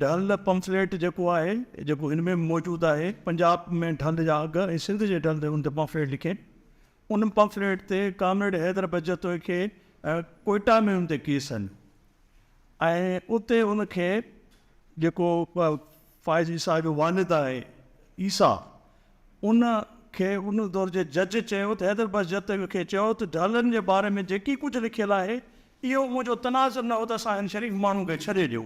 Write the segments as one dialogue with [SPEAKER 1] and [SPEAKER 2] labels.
[SPEAKER 1] ڍل پمفليٽ جيڪو آهي جيڪو هن ۾ به موجود آهي پنجاب ۾ ڍل جا اگهه ۽ سنڌ جي ڍل هن تي پمفليٽ لکين ان پمفليٽ تي ڪامريڊ حيدر بجتوئي کي ڪوئٽا ۾ هن تي ڪيس آهن ۽ اتي هن کي جيڪو فائز عيسيٰ جو والد آهي عيسيٰ ان کي ان دور جي جج چيو ته حيدر بجتوئي کي چيو ته ڍلن جي باري ۾ جيڪي ڪجهه لکيل آهي اهو منهنجو تناظر نه هو ته اسان هن شريف ماڻهو کي ڇڏي ڏيو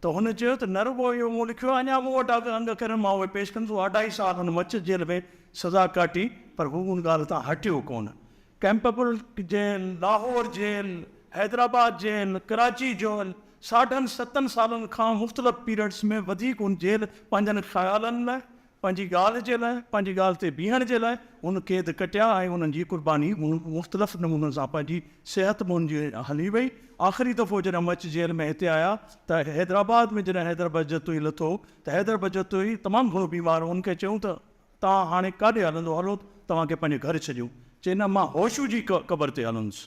[SPEAKER 1] ته هن چيو ته نه رڳو اهو مون لکيو آهي اڃا مون وٽ اگهه انگ اکرن مان اهي پيش ڪندس هو اڍائي سال هن مچس جيل ۾ سزا ڪاٽي پر هو ان ڳالهه تان هٽيو ڪونه Campbell jail Lahore jail Hyderabad jail Karachi jail ساڍن ستن سالن کان مختلف پيرڊس ۾ وڌيڪ هن جيل پنهنجن خيالن لاء پنهنجي ڳالهه جي لاء، پنهنجي ڳالهه تي بيهڻ جي لاء هن قيد ڪٽيا ۽ انهن جي قرباني مختلف نمونن سان پنهنجي صحت منهنجي هلي وئي. آخري دفعو جڏهن مچ جيل ۾ هتي آيا ته حيدرآباد ۾ جڏهن حيدر بجتوئي لٿو ته حيدر بجتوئي تمام گهڻو بيمار هو هن کي چيون ته توهان هاڻي ڪاڏي هلندو هلو توهان کي پنهنجي گهر ڇڏيون چي نه مان هوشو جي قبر تي هلندس.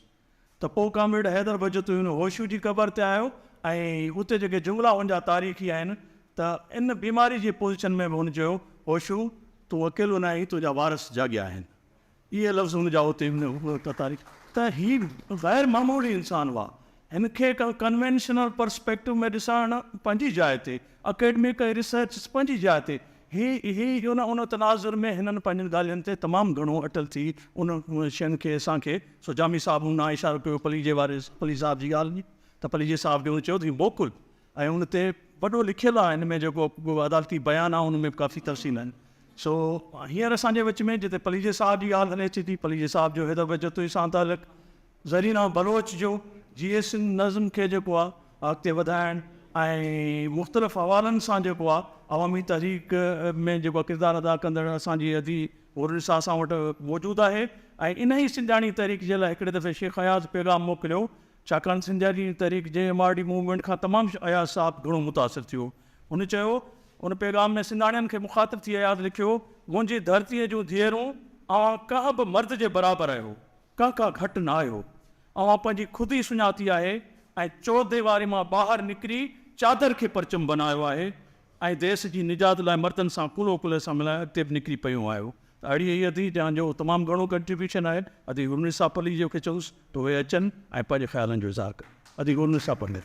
[SPEAKER 1] ته پوء ڪامريڊ حيدر بجتوين هوشو جي قبر تي آيو ۽ اتي جيڪي جملا هن جا تاريخي آهن ته ان بيماري جي پوزيشن ۾ به هن چيو هوشو تون اڪيلو ناهين تنهنجا وارث جاڳيا آهن اهي لفظ هن جا اتي تاريخي ته هي غير معمولي انسان هئا هن کي ڪنوينشنل پرسپيڪٽو ۾ ڏسڻ پنهنجي جاء تي اڪيڊمڪ ۽ ريسرچ پنهنجي جاء تي هي هي ان ان تناظر ۾ هنن پنهنجين ڳالهين تي تمام گهڻو اٽل ٿي ان شين کي اسان کي سو جامي صاحب ان ڏانهن اشارو ڪيو پليجي واري پليجي صاحب جي ڳالهه ۾ ته پليجي صاحب کي ان چيو ته هي موڪل ۽ ان تي وڏو لکيل آهي ان ۾ جيڪو عدالتي بيان آهي ان ۾ به ڪافي تفصيل آهن سو هينئر اسان جي وچ ۾ جتي پليجي صاحب جي ڳالهه هلي اچي ٿي پليجي صاحب جو هيڏو ويجهو تنهن سان تعلق زرينه بلوچ جو جيئي سنڌ نظم کي جيڪو آ اڳتي وڌائڻ ۽ مختلف حوالن سان جيڪو آ عوامي تحريڪ ۾ جيڪو آ ڪردار ادا ڪندڙ اسان جي ادي حور نساء اسان وٽ موجود آهي ۽ انهي سنڌياڻي تحريڪ جي لاء هڪڙي دفعي شيخ اياز پيغام موڪليو ڇاڪاڻ سنڌياڻي تحريڪ جي ايم آر ڊي موومينٽ کان تمام اياز صاحب گهڻو متاثر ٿيو هن چيو ان پيغام ۾ سنڌاڻين کي مخاطب ٿي اياز لکيو منهنجي ڌرتي جون ڌيئرون اوهان ڪنهن به مرد جي برابر آهيو ڪاڪا گهٽ نه آهيو. اوهان پنهنجي خود ئي سڃاتي آهي ۽ چورديواري مان ٻاهر نڪري چادر کي پرچم بنايو آهي ۽ ديس جي نجات لاء مردن سان ڪلهو ڪلهي سان ملائي اڳتي به نڪري پيون آهيو ته اڙي اي ادي جان جو تمام گهڻو ڪنٽريبيوشن آهي ادي هورنسا پلي جو کي چئوس ته اهي اچن ۽ پنهنجي خيالن جو اظهار ڪن ادي هورنسا پلي.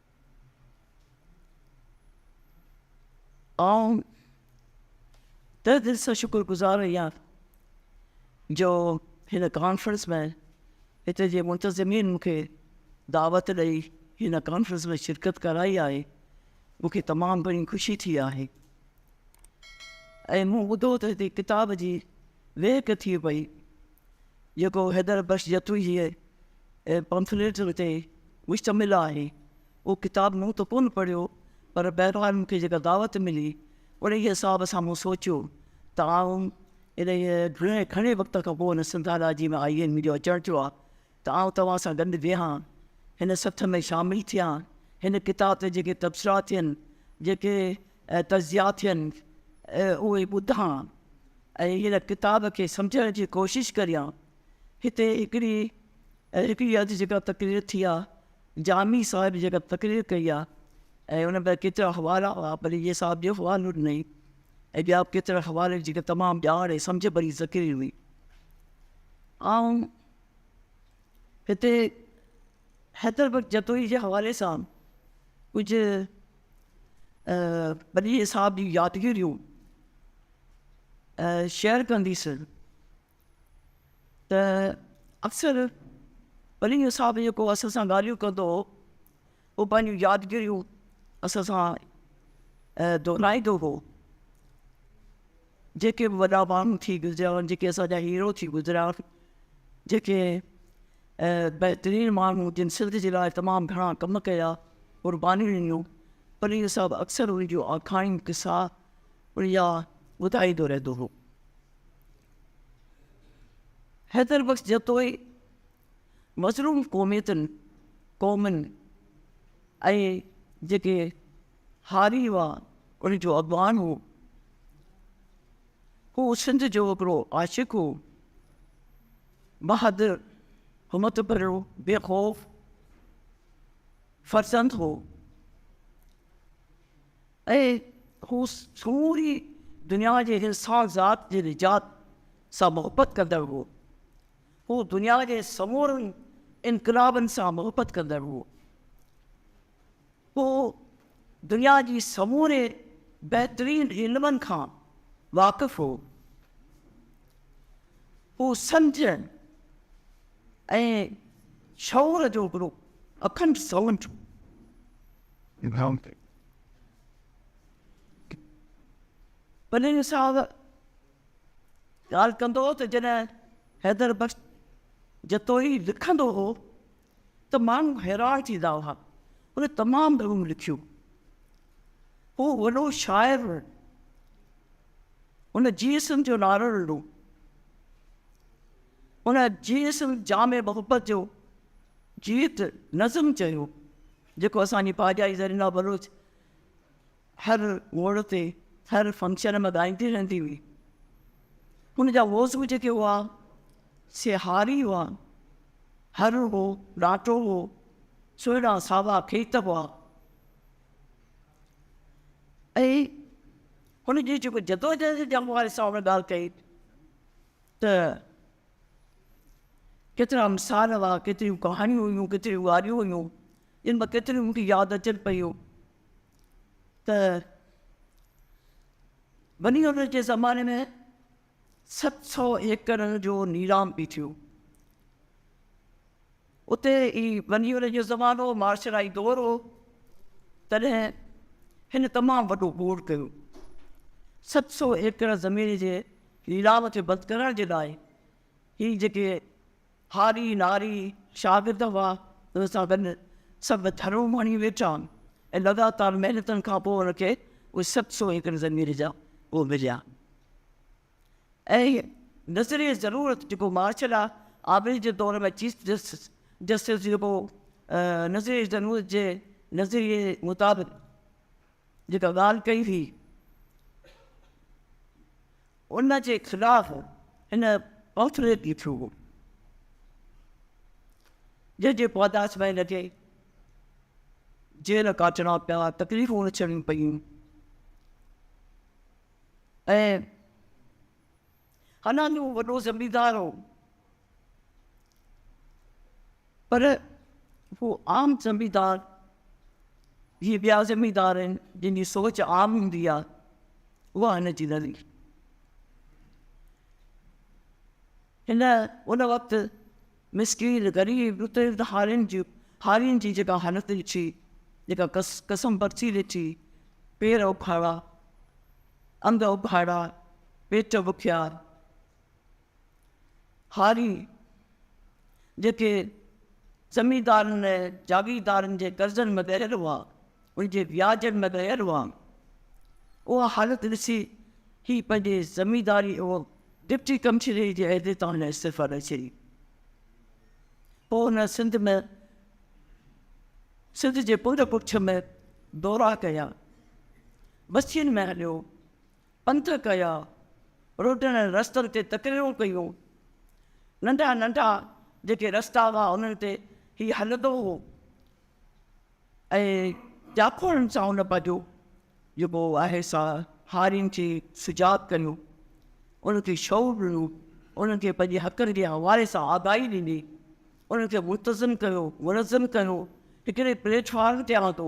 [SPEAKER 2] آئون تهه دل سان شڪر گذار آهيان جو هن ڪانفرنس ۾ هتي جي منتظمين مون کي دعوت ڏئي هن ڪانفرنس ۾ شرڪت ڪرائي آهي مون کي تمام گهڻي خوشي ٿي آهي ۽ مون ٻڌو ته هتي ڪتاب جي وهڪ ٿئي پئي جيڪو حيدر بخش جتوئيء جي پمفليٽن تي مشتمل آهي. اهو ڪتاب مون ته ڪونه پڙهيو، پر بهرحال مون کي جيڪا دعوت ملي، انهيء حساب سان مون سوچيو ته آئون انهيء گهڻي وقت کان پوء ان سنڌالاجيء ۾ آئين جو اچڻ ٿيو آهي، ته آئون توهان سان گڏ ويهان، هن سٿ ۾ شامل ٿيان، هن ڪتاب تي جيڪي تبصرا ٿين، جيڪي تجزيا ٿين، اهي ٻڌان ۽ هن ڪتاب کي سمجهڻ جي ڪوشش ڪريان. هتي هڪڙي هڪڙي اڌ جيڪا تقرير ٿي آ، جامي صاحب جيڪا تقرير ڪئي آ ۽ ان ۾ ڪيترا حوالا هئا، پر هيء صاحب ٻيو حوالو ڏنئي ۽ ٻيا به ڪيترا حوالي جيڪا تمام ڄاڻ ۽ سمجهه ڀري تقرير هئي. آئون هتي حيدر بخش جتوئي جي حوالي سان ڪجهه ٻنهي صاحب جون يادگيريون شيئر ڪنديسون ته اڪثر ٻنهي صاحب جيڪو اسان سان ڳالهيون ڪندو هو هو پنهنجون يادگيريون اسان سان دهرائيندو هو جيڪي به وڏا ماڻهو ٿي گذريا هئا جيڪي اسان جا هيرو ٿي گذريا آهن جيڪي بهترين ماڻهو جن سنڌ جي لاء تمام گهڻا ڪم ڪيا قربانيون ڏنيون پليو صاحب اڪثر ان جون آکاڻيون قصا اڙيا ٻڌائيندو رهندو هو حيدر بخش جتوئي مظلوم قوميتن قومن ۽ جيڪي هاري وا ان جو اڳواڻ هو. هو سنڌ جو هڪڙو عاشق هو. بهادر، همت ڀريو، بي خوف فرزند هو ۽ هو سموري دنيا جي انسان ذات جي نجات سان محبت ڪندڙ هو. هو دنيا جي سمورن انقلابن سان محبت ڪندڙ هو. هو دنيا جي سموري بهترين علمن کان واقف هو. هو سمجهه ۽ شعور جو هڪڙو اکنڊ سمنڊ هو. پليجي صاحب ڳالهه ڪندو هو ته جڏهن حيدر بخش جتوئي لکندو هو ته ماڻهو حيران ٿيندا هئا. هن تمام گهڻو لکيو. هو وڏو شاعر هو. هن جي اسم جو نعرو ڏنو. هن جي اسم جامع محبت جو جيت نظم چيو، جيڪو اسان جي پاڄائي زرينه بلوچ هر موڙ تي هر فنڪشن ۾ ڳائيندي رهندي هئي. هن جا موضوع جيڪي هئا سي هاري هئا، هر هو، ڏاٽو هو، سهڻا ساوا کيت هئا ۽ هن جي جيڪو جدوجهد جي حوالي سان هن ڳالهه ڪئي ته ڪيترا مثال هئا، ڪيتريون ڪهاڻيون هيون، ڪيتريون واريون هيون جن مان ڪيتريون مون کي ياد اچن پيون. ته بني عمر جي زماني ۾ ست سؤ ايڪڙ جو نيلام به ٿيو اتي ئي بني عمر جو زمانو هو معاشرائي دور هو تڏهن هن تمام وڏو گوڙ ڪيو ست سؤ ايڪڙ زمين جي نيلام کي بند ڪرڻ جي لاء هي جيڪي هاري ناري شاگرد هئا، ان سان گڏ سڀ ڌرون ماڻي ويٺا ۽ لڳاتار محنتن کان پوء هن کي اهي ست سؤ ايڪڙ زمين جا اهي مليا ۽ نظريه ضرور جيڪو مارشل آف آبري جي دور ۾ چيف جسٽس جسٽس جيڪو نظريه ضرورت جي نظريه مطابق جيڪا ڳالهه ڪئي هئي ان جي خلاف هن پمفليٽ لکيو هو جنهن جي پاداش ۾ هن کي جيل ڪاٽڻا پيا تڪليفون اچڻيون پيون ۽ حالانڪ هو وڏو زميندار هو پر هو عام زميندار جيئن ٻيا زميندار آهن جن جي سوچ عام هوندي آهي اها هن جي نه هئي هن ان وقت مسڪين غريب رتل هارين جي هارين جي جيڪا حالت ڏٺي جيڪا قسم برسي ڏٺي پير اکاڙا انگ اگهاڙا، پيٽ بکيا، هاري، جيڪي زميندارن ۽ جاگيردارن جي قرضن ۾ ڳهيل هئا، ان جي وياجن ۾ ڳهيل هئا. اها حالت ڏسي هي پنهنجي زمينداري او ڊپٽي ڪمشنري جي عهدي تان هن استعفيٰ ڏئي ڇڏي. پوء هن سنڌ ۾ سنڌ جي پنڊ پڇ ۾ دورا ڪيا. بستين ۾ هليو، پنڌ ڪيا، روڊن ۽ رستن تي تقريرون ڪيون. ننڍا ننڍا جيڪي رستا هئا انهن تي هي هلندو هو ۽ جاکوڙن سان هن پنهنجو جيڪو آهي سا هارين کي سجاڳ ڪيو، انهن کي شعور ڏنو، انهن کي پنهنجي حقن جي حوالي سان آگاهي ڏني، انهن کي منتظم ڪيو، منظم ڪيو، هڪڙي پليٽ فارم تي آندو.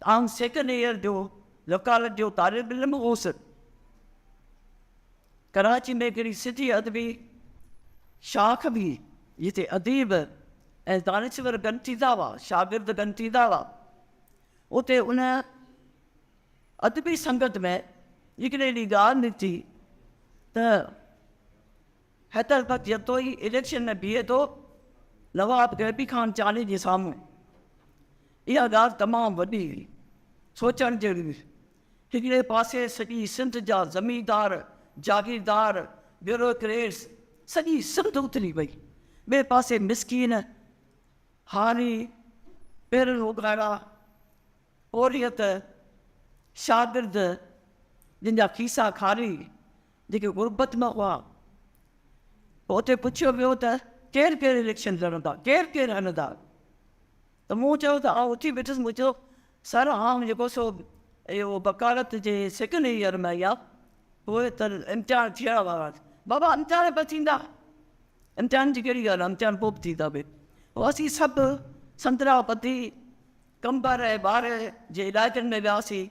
[SPEAKER 2] آئون سيڪنڊ ايئر جو وڪالت جو طالب علم هوس. ڪراچي ۾ هڪڙي سنڌي ادبي شاخ هئي، جتي اديب ۽ دانشور گڏ ٿيندا هئا، شاگرد گڏ ٿيندا هئا. اتي ان ادبي سنگت ۾ هڪڙي ڏينهن ڳالهه نڪتي ته حيدربخش جتوئي اليڪشن ۾ بيهي ٿو نواب غيبي خان چانڊيي جي سامهون. اها ڳالهه تمام وڏي هئي. سوچڻ جهڙي هئي. هڪڙي پاسي سڄي سنڌ جا زميندار، جاگيردار، بيوروڪريٽس سڄي سنڌ اٿري وئي. ٻئي پاسي مسڪين، هاري، پيرن اوڳاڙا، پورهيت، شاگرد جن جا کيسا خالي، جيڪي غربت ۾ هئا، پوء اتي پڇيو ويو ته ڪير ڪير اليڪشن لڙندا، ڪير ڪير هلندا؟ ته مون چيو ته آئون اٿي بيٺس، مون چيو سر آئون جيڪو سو اهو وڪالت جي سيڪنڊ ايئر ۾ آهيان، اهي ته امتحان ٿيڻ وارا آهن، بابا امتحان به ٿيندا، امتحان جي ڪهڙي ڳالهه آهي، امتحان پوء به ٿيندا اهي، پوء اسين سڀ سندرا ٻڌي قمبر ۽ ٻار جي علائقن ۾ وياسين.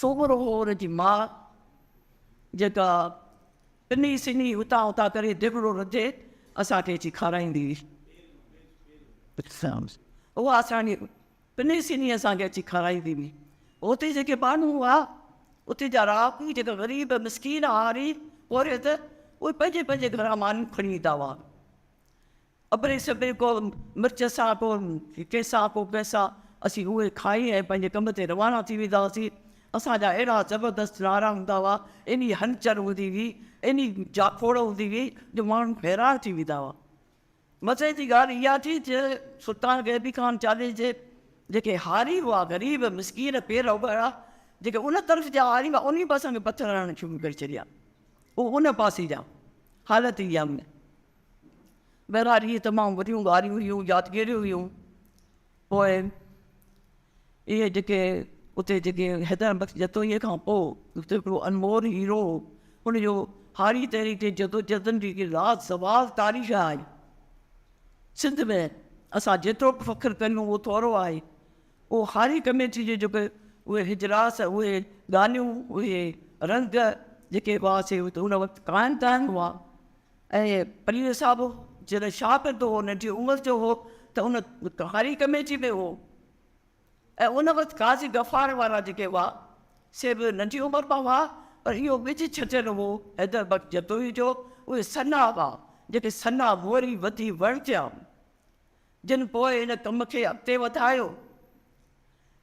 [SPEAKER 2] سومرو هو ان جي ماء جيڪا پني سني هتان هتان ڪري ديڳڙو رڌي اسان کي اچي کارائيندي هئي. اها اسانجي پني سني اسان کي اچي کارائيندي هئي. هتي جيڪي ٻانهون هئا اتي جا رهاڪو جيڪا غريب مسڪين هاري پورهيت اهي پنهنجي پنهنجي گهران مانيون کڻي ايندا هئا. ابري سبري ڪو مرچ سان ڪو ڪيسا ڪو پئسا اسين اهي کائي ۽ پنهنجي ڪم تي روانا ٿي ويندا هئاسين. اسان جا اهڙا زبردست نعرا هوندا هئا، ايڏي هلچل هوندي هئي، ايڏي جاکوڙ هوندي هئي جو ماڻهو حيران ٿي ويندا هئا. مزي جي ڳالهه اها ٿي ته سلطان غيبي خان چالهي جي جيڪي هاري هئا، غريب مسڪين پير اگهاڙا، جيڪي ان طرف جا هاري هئا انهي به اسان کي پٿر هڻڻ شروع ڪري ڇڏيا. اهو ان پاسي جا حالت اها هئي. بهرحال اهي تمام وڏيون ڳالهيون هيون، يادگيريون هيون. پوء اهي جيڪي اتي جيڪي حيدر بخش جتوئيء کان پوء اتي هڪڙو انمول هيرو هو، ان جو هاري تحريڪ جي جدوجهدن جي هڪ لازوال تاريخ آهي. سنڌ ۾ اسان جيترو به فخر ڪريون اهو ٿورو آهي. اهو هاري ڪميٽيء جو جيڪو اهي اجلاس، اهي ڳالهيون، اهي رنگ جيڪي هئا سي ان وقت قائم ته آهن هئا. ۽ پليجو صاحب جڏهن شاهه پنٿ هو ننڍي عمر جو هو ته ان هاري ڪميٽي ۾ هو ۽ ان وقت قاضي غفار وارا جيڪي هئا سي به ننڍي عمر مان هئا پر اهو ٻج ڇٽيل هو حيدر بخش جتوئي جو اهي سنا هئا جيڪي سنا موري وڌي وڻ ٿيا جن پوء ان ڪم کي اڳتي وڌايو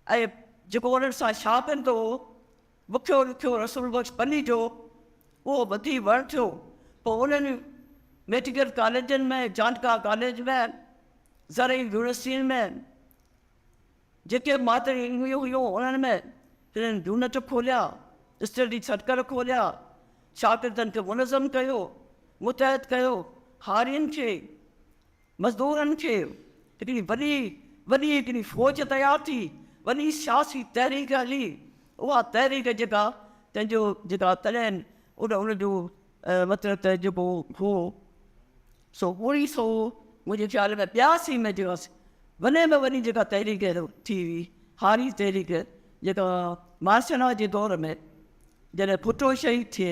[SPEAKER 2] ۽ جيڪو انهن سان شاهه پنٿ هو بکيو رکيو رسول بخش پني جو اهو ٻڌي وڻ ٿيو پوء انهن ميڊيڪل ڪاليجن ۾ جانڪا ڪاليج ۾ زرعي يونيورسٽين ۾ جيڪي مادري علميون هيون انهن ۾ هنن يونٽ کوليا اسٽڊي سرڪل کوليا شاگردن کي منظم ڪيو متحد ڪيو هارين کي مزدورن کي هڪڙي وڏي وڏي هڪڙي فوج تيار ٿي، وڏي سياسي تحريڪ هلي، اها تحريڪ جيڪا تنهن جو جيڪا تڏهن ان ان جو مطلب ته جيڪو هو سو اڻيهه سو منهنجي خيال ۾ ٻياسي ۾ جيڪا وڏي ۾ وڏي جيڪا تحريڪ ٿي هئي هاري تحريڪ جيڪا مارشل لا جي دور ۾ جڏهن ڀٽو شهيد ٿئي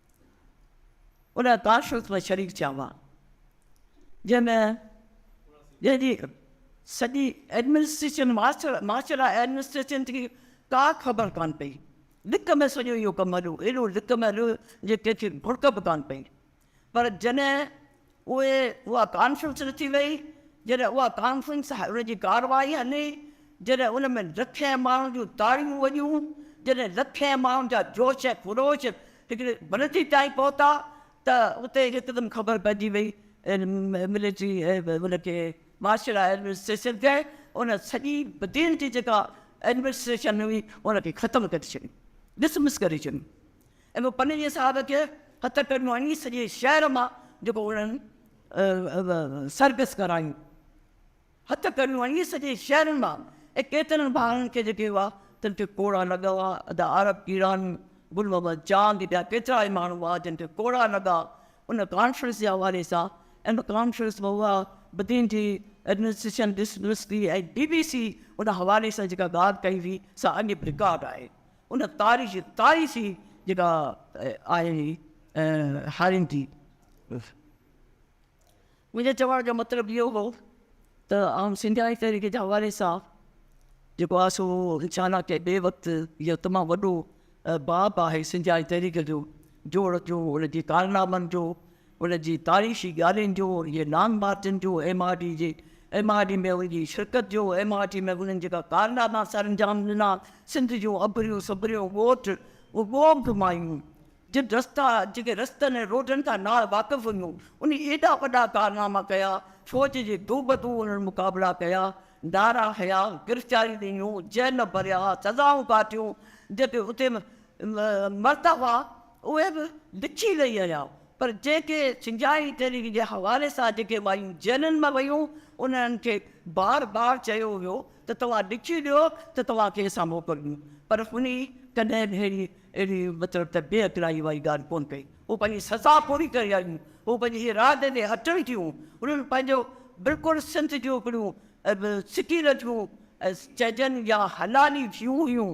[SPEAKER 2] ان تاشوت ۾ شريڪ ٿيا هئا، جنهن ۾ جنهن جي سڄي ايڊمنسٽريشن مارشل ايڊمنسٽريشن جي ڪا خبر ڪانه پئي، لڪ ۾ سڄو اهو ڪم هليو، ايڏو لڪ ۾ هليو جو ڪنهن کي ڀڙڪ به ڪانه پئي، پر جڏهن پوء اها ڪانفرنس رٿي ويئي، جڏهن اها ڪانفرنس ان جي ڪارروائي هلي، جڏهن ان ۾ لکين ماڻهن جون تاڙيون وڄيون، جڏهن لکين ماڻهن جا جوش ۽ خروش هڪڙي بلندي تائين پهتا ته اتي هڪدم خبر پئجي ويئي ملٽري ان کي مارشل لا ايڊمنسٽريشن کي ان سڄي بدين جي جيڪا ايڊمنسٽريشن هئي ان کي ختم ڪري ڇڏيو، ڊسمس ڪري ڇڏيو. اهو پنهنجي صاحب کي هٿ ڪرڻو آهي سڄي شهر مان جيڪو انهن سرڪس ڪرايون هٿ ڪرڻو آهي سڄي شهر مان ۽ ڪيترن ڀائرن کي جيڪي هئا تن کي ڪوڙا لڳا هئا ادا عارب ڪيڙاني گل محمد چاند ٻيا ڪيترا ئي ماڻهو هئا جن کي ڪوڙا لڳا ان ڪانفرنس جي حوالي سان ان ڪانفرنس ۾ هئا بدين جي ايڊمنسٽريشن ڏس ڏس ٿي ۽ بي بي سي ان حوالي سان جيڪا ڳالهه ڪئي هئي سا اڄ به رڪارڊ آهي ان تاريخ تاريخ ئي جيڪا آهي هي هارين ٿي. منهنجي چوڻ جو مطلب اهو هو ته آئون سنڌياڻي تحريڪ جي حوالي سان جيڪو آهي سو انشاء الله ڪنهن ٻئي وقت اهو تمام وڏو باب آهي سنڌياڻي تحريڪ جو جوڙ جو ان جي ڪارنامن جو ان جي تاريخي ڳالهين جو، ان جي لانگ مارچن جو، ايم آر ڊي جي ايم آر ڊي ۾ ان جي شرڪت جو، ايم آر ڊي ۾ انهن جيڪا ڪارناما سر انجام ڏنا، سنڌ جون اڀريون سڀريون ڳوٺ ڳوٺ مايون جن رستا جيڪي رستن ۽ روڊن کان نا واقف هيون انهن ايڏا وڏا ڪارناما ڪيا، فوج جي دو بدو انهن مقابلا ڪيا، نعرا هنيا، گرفتاريون ڏنيون، جيل ڀريا، سزائون ڪاٽيون جتي اتي مرتبا اهي به لکي رهي آهيان پر جيڪي سنجائي تحريڪ جي حوالي سان جيڪي مايون ذهنن مان ويون انهن کي بار بار چيو ويو ته توهان لکي ڏيو ته توهان کي اسان موڪل ڏيون پر هني ڪڏهن به اهڙي اهڙي مطلب ته بي عقلائي واري ڳالهه ڪونه ڪئي هو پنهنجي سزا پوري ڪري آيون هو پنهنجي ارادي تي اٽل ٿيون انهن پنهنجو بلڪل سنڌ جون هڪڙيون سڪيل ٿيون چئجن يا حلالي ٿيون هيون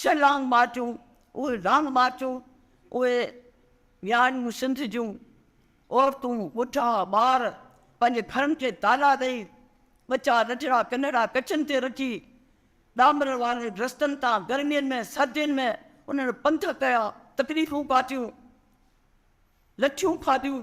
[SPEAKER 2] ڇهه لانگ مارچون، اهي لانگ مارچون، اهي وياڻيون سنڌ جون عورتون، ٻڍا، ٻار پنهنجي گهرن کي تالا ڏئي، ٻچا ننڍڙا ڪنرڙا ڪڇن تي رکي، ڏامر وارن رستن تان گرمين ۾ سردين ۾ انهن پنڌ ڪيا، تڪليفون ڪاٽيون، لٺيون کاڌيون.